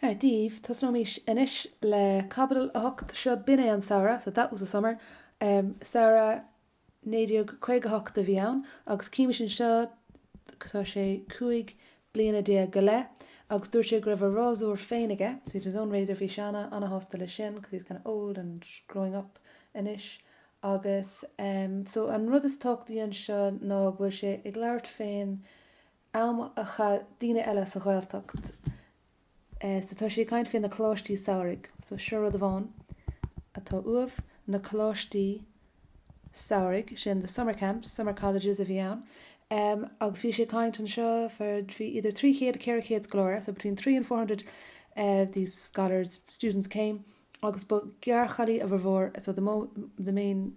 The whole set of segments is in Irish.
Dia daoibh, tosnóimís anois le caibidil a hocht, seo b'in é an samhradh, so that was the summer, samhradh naoi déag caoga a hocht a bhí ann agus címís anseo, tá sé cúig bliana déag go leith agus dúirt sé go raibh a rásúr féin aige, so he had his own razor, bhí sé ana ana-shásta leis sin because he's kind of old and growing up anois agus, so an rud is tábhachtaí anseo ná go bhfuil sé ag labhairt fén am a chaith daoine eile sa Ghaeltacht so tá sé ag caint fé na coláistí samhraidh so seo rud amháin atá uaibh, na coláistí samhraidh, sin the summer camps, summer colleges a bhí ann em agus bhí sé ag caint anseo for bhí idir trí chéad, ceithre chéad scoláire so between three and four hundred eh these scholars, students came agus ba ghearrchailí a bhformhór so the mo, the main.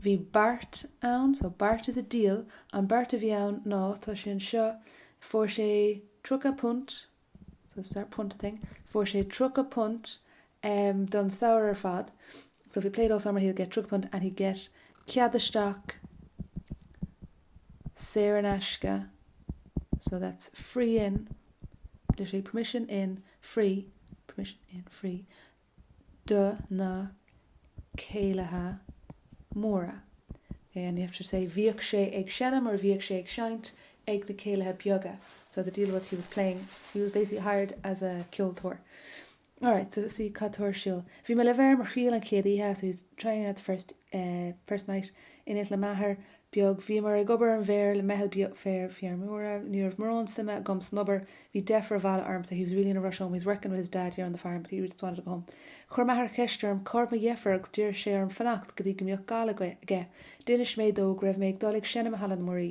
Bhí beart ann, so beart is a deal, an beart a bhí ann ná, tá sé anseo, fuair sé tríocha punt, so it's that punt thing, fuair sé tríocha punt don samhradh ar fad, so if he played all summer he'll get tríocha punt and he'd get cead isteach saor in aisce, so that's free in, literally permission in, free, permission in, free, do na céilithe móra. Bhíodh sé ag seinm or bhíodh sé ag seinnt ag na céilithe beaga so the deal was he was playing he was basically hired as a ceoltóir alright so see cad atá ar siúl bhí mé le bheith ar mo thriail an chéad oíche so he was trying out the first, uh, first night in it le m'athair beag. Bhíomar ag obair ar an bhféar le meitheal beag fear feirmeora. Ní raibh mórán suime agam san obair. Bhí deifir abhaile ormsa, he was really in a rush home, he was working with his dad here on the farm but he really just wanted to go home. Chuir m'athair ceist orm cá raibh mo dheifir agus d'iarr sé orm fanacht go dtí go mbeadh gal aige. D'inis mé dó go raibh mé ag dul ag seinm i Halla na Muirí.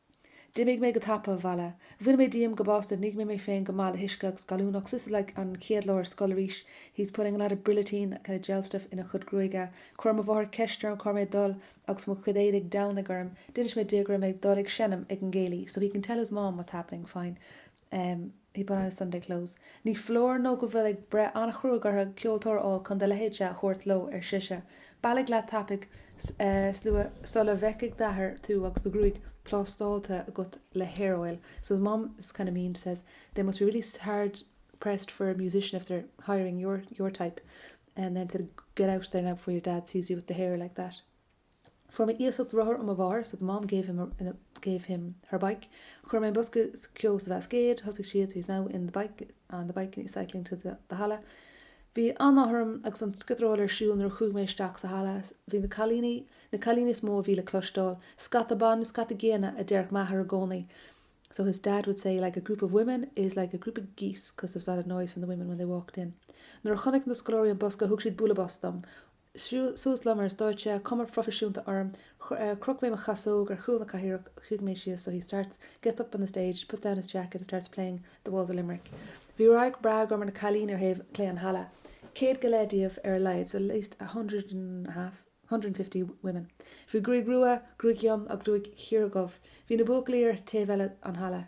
D'imigh mé go tapa, abhaile. Bhain mé díom go básta, nigh mé mé féin go maith le huisce agus gallúnach, this is like an chéad lá ar scoil arís he's putting a lot of brillantine, that kind of gel stuff, ina chod' gruaige. Chuir mo mháthair ceist orm cá raibh mé ag dul agus mo chuid éadaigh Domhnaigh orm. D'inis mé di go raibh mé ag dul ag seinm ag an gcéilí so he can tell his mom what's happening, fine. Um he put on his Sunday clothes. Ní foláir nó go bhfuil ag breith an-chruaidh orthu ceoltóir a fháil chun do leithéidse a thabhairt leo, ar sise. Bailigh leat tapaidh slua sula bhfeicfidh d'athair tú agus do ghruaig plástáltha agat le hair oil. So his mum is kind of mean, says, they must be really hard pressed for a musician if they're hiring your your type. And then said, get out there now before your dad sees you with the hair like that. Fuair mé iasacht rothar ó mo mháthair, so the mom gave him her bike. Chuir mé an bosca ceoil sa bhascaed. Thosaigh siad, he is now in the bike, on the bike, cycling to the, the halla. Bhí an-áthas orm agus an sciotaraíl ar siúl nuair a chuaigh mé isteach sa halla. Bhí na cailíní is mó a bhí le cloisteáil. Scata ban, scata géanna, a déarfadh m'athair i gcónaí, so his dad would say like a group of women is like a group of geese because there was a lot of noise from the women when they walked in. Nuair a chonaic na scoláirí an bosca thug siad bualadh bos dom. Suas liom ar an stáitse, cuma phroifisiúnta orm. Chroch mé mo chasóg ar chúl na cathaoireach. Shuigh mé síos. So he starts, gets up on the stage, puts down his jacket and starts playing The Walls of Limerick. Bhí radharc breá agam ar na cailíní ar thaobh clé an halla. Céad go leith díobh ar a laghad, so at least a hundred and a half, hundred and fifty, women. Bhí gruaig rua, gruaig fhionn agus gruaig chiardhubh. Bhí na buachaillí ar thaobh eile an halla.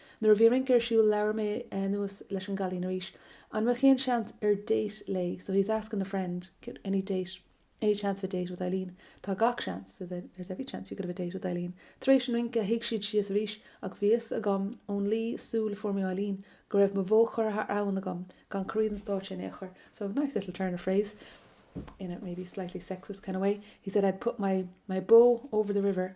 Nuair a bhí rince ar siúl labhair mé anuas leis an gcailín arís. An mbeadh aon seans ar date léi? So he's asking the friend, any chance of a date with Eileen? Tá gach seans, so there's every chance you could have a date with Eileen. Tar éis an rince shuigh siad síos arís agus bhí fhios agam ón luí súl a fuair mé ó Eileen go raibh mo bhó curtha thar abhainn agam gan corraí den stáitse in aon chor. So, nice little turn of phrase in a maybe slightly sexist kind of way, he said I'd put my bó over the river.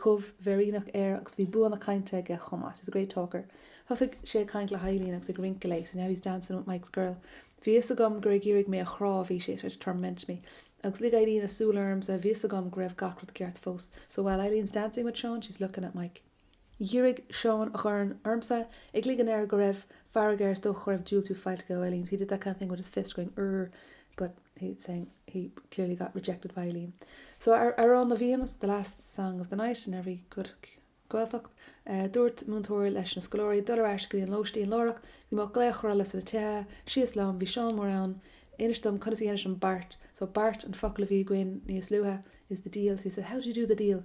chomh bhféiríneach air agus bhí bua na cainte aige chomh maith, he's a great talker. Thosaigh sé ag caint le hEilín agus ag rince léi, so now he's dancing with Mike's girl. Bhí a fhios agam gur ag iarraidh mé a chrá a bhí sé, to torment me. Agus lig Eilín a súil ormsa, bhí a fhios agam go raibh gach rud ceart fós, so while Eileen's dancing with Seán, she's looking at Mike. Dhírigh Seán a dhorn ormsa, ag ligean air go raibh fearg air, is dócha go raibh diúltú faighte aige ó Eilín, so he did that kind of thing with his fist, going urr. but he's saying he clearly got rejected by Eileen so Amhrán na bhFiann is the last song of the night in every good Gaeltacht eh, dúirt múinteoir leis na scoláirí dul ar ais go dtí an lóistín láithreach go mbeadh glaoch rolla sna tithe síos liom bhí Seán Mór ann inis dom conas a dheinis an beart so beart an focal a bhí againn níos luaithe is the deal so he said how do you do the deal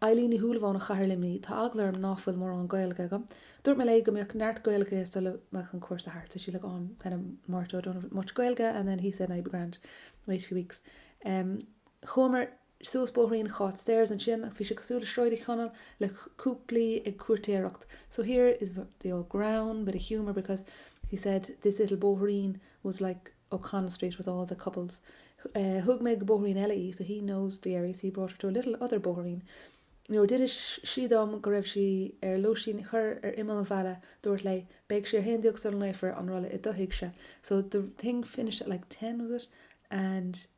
Eilín Ní Shúilleabháin ó Chathair Luimní Tá eagla orm ná fuil mórán Gaeilge agam. Dúirt mé léi go mbeadh neart Gaeilge aici sula mbeadh an cúrsa thart, so she's like oh I'm kind of morto I don't have much Gaeilge and then he said nah you'll be grand, wait a few weeks. Em Chuamar suas bóithrín Cháit stairs ansin agus bhí sé cosúil le Sráid Uí Chonaill le cúplaí ag cúirtéireacht so here is the old greann bit of humour because he said this little bóithrín was like O'Connell Street with all the couples'. Thug mé go bóithrín eile í, 'so he knows the area, so he brought her to a little other bóithrín'. Nuair a d'inis sí dom go raibh sí ar lóistín thoir ar imeall an bhaile, dúrt léi, 'Beidh sé a haon déag sula nglaofar an rolla i do thighse'. So the thing finished at like ten, was it? And.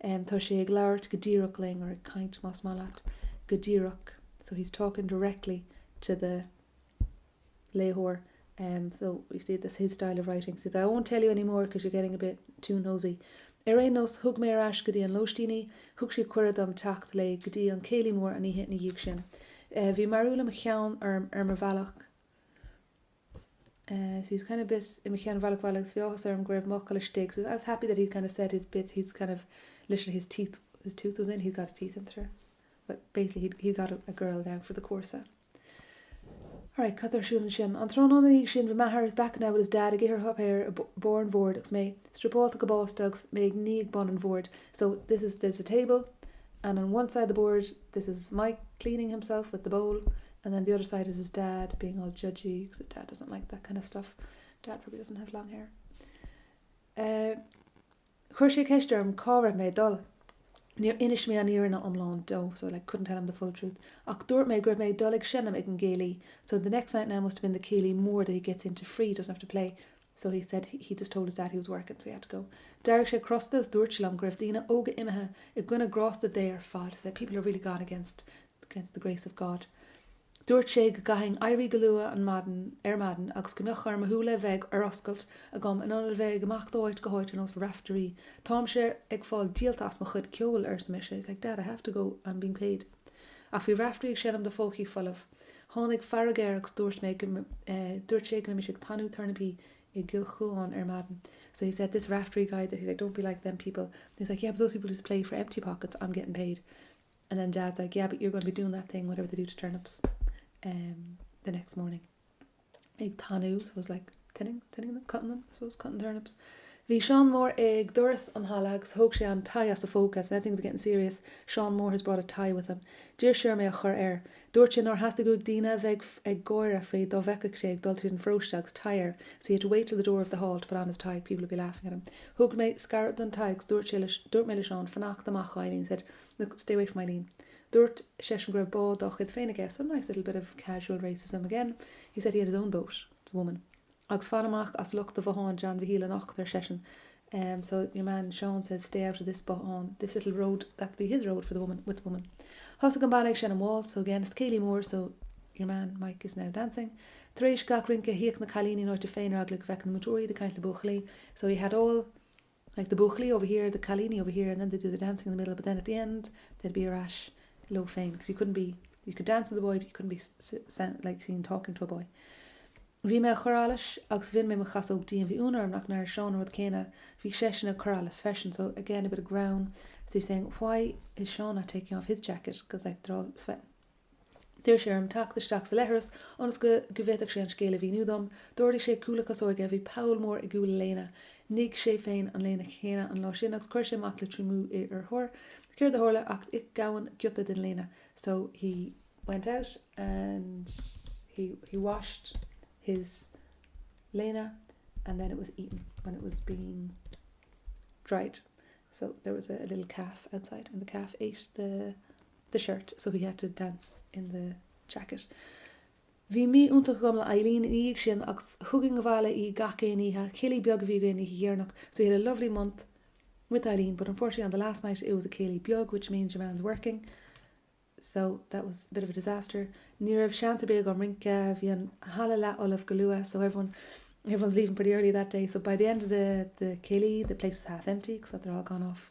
em, tá sé ag labhairt go díreach linn, or ag caint, más maith leat, go díreach, so he's talking directly to the léitheoir, em, so you see this is his style of writing, he says I won't tell you any more because you're getting a bit too nosy. Ar aon nós, thug mé ar ais go dtí an lóistín í, thug sí cuireadh dom teacht léi go dtí an céilí mór an oíche ina dhiaidh sin. Eh, bhí mearbhall i mo cheann ar mo bhealach, She was kind of bit i mo cheann bhaile bhaile agus bhí áthas orm go raibh m'fhocal istigh, she was, I was happy that he'd kind of said his bit, he'd kind of, literally his teeth, his tooth was in, he'd got his teeth into her. Well, basically he'd, he'd got a, a girl now for the cúrsa. Alright, cad ar siúl ansin? An tráthnóna na dhiaidh sin bhí m'athair is back now with his dad ag ithir up there a barr an bhoird agus mé striopálta go básta agus mé ag ní ag bun an bhoird. So, this is, there's a table and on one side the board this is Mike cleaning himself with the bowl, And then the other side is his dad being all judgy because his dad doesn't like that kind of stuff. Dad probably doesn't have long hair. Eh, chuir sé ceist orm cá raibh mé ag dul. Níor inis mé an fhírinne iomlán dó, so I like couldn't tell him the full truth, ach dúirt mé go raibh mé ag dul ag seinm ag an gcéilí, so the next night now must have been the céilí mór that he gets into free, doesn't have to play, so he said he just told his dad he was working so he had to go d'éirigh sé crosta is dúirt sé liom go raibh daoine óga imithe i gcoinne grásta Dé ar fad said people are really gone against against the grace of God dúirt sé go gcaithfinn éirí go luath an maidin ar maidin agus go mbeadh orm mo shúile a bheith ar oscailt agam in ionad a bheith ag imeacht ó áit go háit ar nós Raiftearaí táimse ag fáil díolta as mo chuid ceoil arsa mise he's like dad I have to go I'm being paid Ach bhí Raiftearaí ag seinm do phócaí folamh. Tháinig fearg air agus dúirt mé go, eh, dúirt sé go mbeimis ag tanú turnapaí i gCill Chuáin ar maidin. So he said, this Raiftearaí guy, that he's like, don't be like them people. And he's like, yeah, but those people just play for empty pockets, I'm getting paid. And then Dad's like, yeah, but you're going to be doing that thing, whatever they do to turnips, em, the next morning. ag tanú, suppose like thinning, thinning them, cutting them, suppose cutting turnips. Bhí Seán Mór ag doras an halla agus thóg sé an tie as a phóca, so now things are getting serious, Seán Mór has brought a tie with him. D'iarr sé orm é a chur air. Dúirt sé nár theastaigh uaidh daoine a bheith ag gáire faoi dá bhfeicfeadh sé ag dul tríd an pharóiste agus tie air, so he had to wait till the door of the hall to put on his tie, people would be laughing at him. Thug mé sracadh don tie agus dúirt mé le Seán fanacht amach ó Eileen, he said, look, stay away from Eileen. Dúirt seisean go raibh bád dá chuid féin aige, so nice little bit of casual racism again. He said he had his own boat, the woman. Agus fan amach as lochta bhotháin John Mhichíl anocht, ar seisean. So your man Seán says stay out of this bothán, this little road, that'll be his road for the woman, with the woman. Thosaigh an banna ag seinm waltz, so again it's céilí mór, so your man Mike is now dancing. Tar éis gach rince, shuíodh na cailíní in áit leo féin ar eagla go bhfeicfeadh na múinteoirí iad ag caint le buachaillí, so he had all Like the buachaillí over here, the cailíní over here, and then they'd do the dancing in the middle but then at the end they'd be ar ais leo féin because you couldn't be, you could dance with a boy but you couldn't be sound, like seen talking to a boy. Bhí mé a chur allais agus bhain mé mo chasóg díom. Bhí ionadh orm nach ndeir Seán an rud céanna. Bhí seisean a' cur allais freisin so again a bit of grown, as if saying, why is Seán not taking off his jacket because after all it was fettin'. D'iarr sé orm teacht isteach sa leithreas ionas go bhféadfadh sé an scéal a mhíniú dom. D'ardaigh sé cúl a chasóige. Bhí poll mór i gcúl a léine. Nigh sé féin an léine chéanna an lá sin agus chuir sé amach le triomú í ar thor. Céard a tharla ach ith gamhain giota den léine. So he went out and he he washed his léine and then it was eaten when it was being dried. So there was a little calf outside and the calf ate the the shirt so he had to dance in the jacket. Bhí mí iontach agam le Eileen ina dhiaidh sin agus thugainn abhaile í gach aon oíche, céilí beag a bhí againn oíche dheireanach so he had a lovely month with Eileen but unfortunately on the last night it was a céilí beag which means your man's working so that was a bit of a disaster ní raibh seans ar bith agam rince, bhí an halla leathfholamh go luath so everyone everyone's leaving pretty early that day so by the end of the, the céilí the place was half empty because they'd all gone off.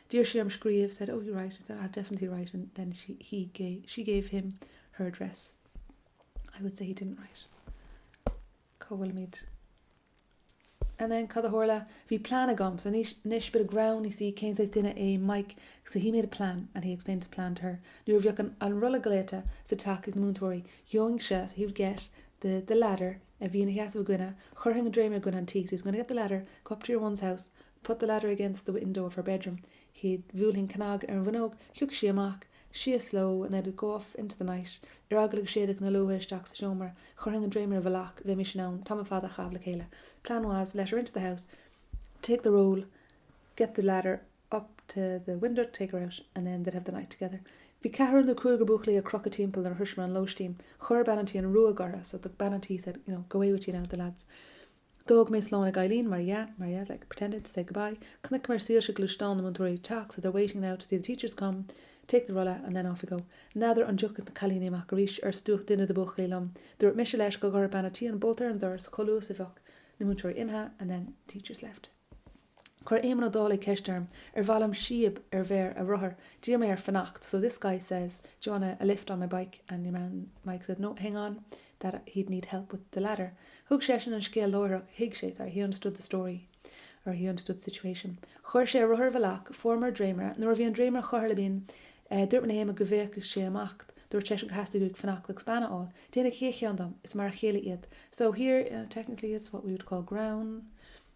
D'iarr sí orm scríobh, said, Oh, you write, I said, I'll definitely write and then she, he, ga, she gave him her address. I would say he didn't write. Cá bhfuilimid? And then cad a tharla? Bhí plean agam, so anois, anois, bit of ground, you see, cén saghas duine é Mike, so he made a plan and he explained his plan to her. Nuair a bheadh an, an rolla glaoite sa teach ag na múinteoirí, gheobhainn se, so he would get the, the ladder a bhí ina sheasamh againne, chuirfinn an dréimire againne an tí, so he was going to get the ladder, go up to your one's house, put the ladder against the window of her bedroom he'd bhuailfinn cnag ar an bhfuinneog, thiocfadh sí amach síos leo and they'd go off into the night ar eagla go séidfeadh na luaithe isteach sa seomra, chuirfinn an dréimire i bhfolach, bheimis in ann tamall fada a chaitheamh le chéile plan was, let her into the house, take the roll, get the ladder up to the window, take her out, and then they'd have the night together bhí ceathrar nó cúigear buachaillí ag crochadh timpeall nuair a shroiseamar an lóistín, chuir bean an tí an ruaig orthu so the bean an tí said, you know, go away with you now, the lads. D'fhág mé slán ag Eileen, mar dhea, mar dhea, like, pretended to say goodbye. Chonaiceamar soilse gluaisteán na múinteoirí teacht, so they're waiting now to see the teachers come, take the rolla and then off we go. N'fheadar an dtiocfaidh na cailíní amach arís, arsa duine de buachaillí liom. Dúirt mise leis go gcuirfeadh bean a' tí an bolta ar an doras chomh luath is a bheadh na múinteoirí imithe, and then the teachers left. Chuir Éamonn Ó Dálaigh ceist orm ar mhaith liom síob ar bhéar a rothair. D'iarr mé air fanacht, so this guy says, do you wanna a lift on my bike and your man Mike said, no, hang on, that he'd need help with the ladder. Thuig seisean an scéal láithreach, thuig sé, sorry, he understood the story or he understood the situation. Chuir sé a rothar i bhfolach, fuaireamar dréimire. Nuair a bhí an dréimire curtha le binn, dúirt mé le hÉamonn go bhféadfadh sé imeacht. Dúirt seisean gur theastaigh uaidh fanacht agus bean a fháil. Déanfadh aon cheann dom, is mar a chéile iad. So here, technically, it's what we would call greann.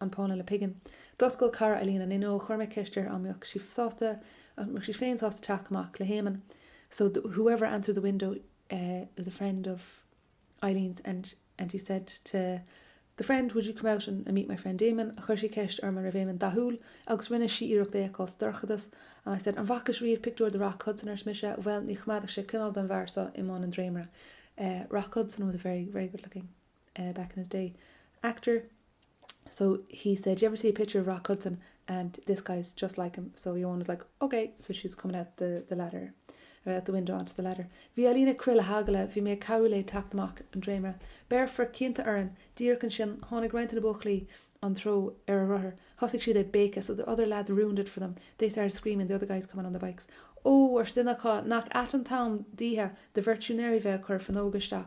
an pána le pingin. D'oscail cara Eilín an fhuinneog. Chuir mé ceist uirthi an mbeadh sí sásta, an mbeadh sí féin sásta teacht amach le hÉamonn so the, whoever answered the window was a friend of Eileen's and he said to the friend, would you come out and meet my friend Éamonn? Chuir sí ceist orm an raibh Éamonn dathúil agus rinne sí iarracht é a fheiceáil sa dorchadas and I said, an bhfacaís riamh pictiúr de Rock Hudson? ars' mise, bhuel, ní choimeádfadh sé coinneal don bhfear so i mbun an dréimire. Rock Hudson was a very, very good looking. back in his day, actor, so he said, do you ever see a picture of Rock Hudson and this guy is just like him, so your one was like, ok, so she was coming out the, the ladder, or out the window onto the ladder. Bhí Eilín ag crith le heagla, bhí mé ag cabhrú léi teacht amach an dréimire. Béarfar cinnte orainn, díreach ansin tháinig roinnt de na buachaillí an treo ar a rothar, thosaigh siad ag béiceadh, so the other lads ruined it for them, they started screaming, the other guys coming on their bikes. Ó, ars' duine acu, nach ait an t-am d'oíche do bheirt siúinéirí bheith ag cur fuinneoga isteach.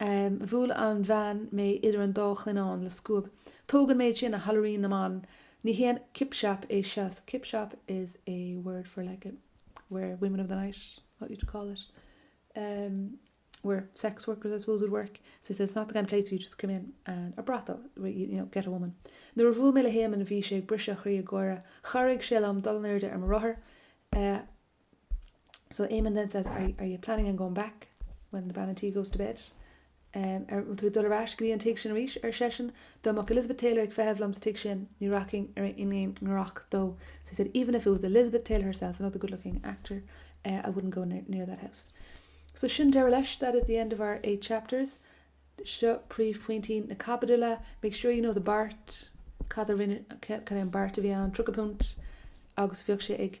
Bhuail an bhean mé idir an dá shlinneán le scuab. Tóg an méid sin, a theallairín na mban! Ní haon kip shop é seo. So kip shop is a word for like where women of the night, what would you call it? Um, where sex workers, I suppose, would work. So it's not the kind of place where you just come in and a brothel, where you, you know, get a woman. Nuair a bhuail mé le hÉamonn, bhí sé ag briseadh a chroí ag gáire. Chabhraigh sé liom dul in airde ar mo rothar. Uh, So Éamonn then says, are, are you planning on going back when the bean a' tí goes to bed? Um, an bhfuil tú ag dul ar ais go dtí an tigh sin arís? ar seisean. Dá mbeadh Elizabeth Taylor ag feitheamh liom sa tigh sin, ní rachainn in aon ghiorracht dó. So he said, even if it was Elizabeth Taylor herself, another good looking actor, eh, I wouldn't go near, near that house. So sin deireadh leis, that is the end of our eight chapters. Seo príomhphointí na caibidile. Make sure you know the beart, cad a rinne, cad é an beart a bhí ann, tríocha punt, agus bheadh sé ag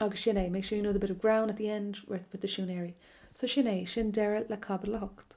Agus sin é, make sure you know the bit of greann at the end with the siúinéirí. So sin é, sin deireadh le Caibidil 8.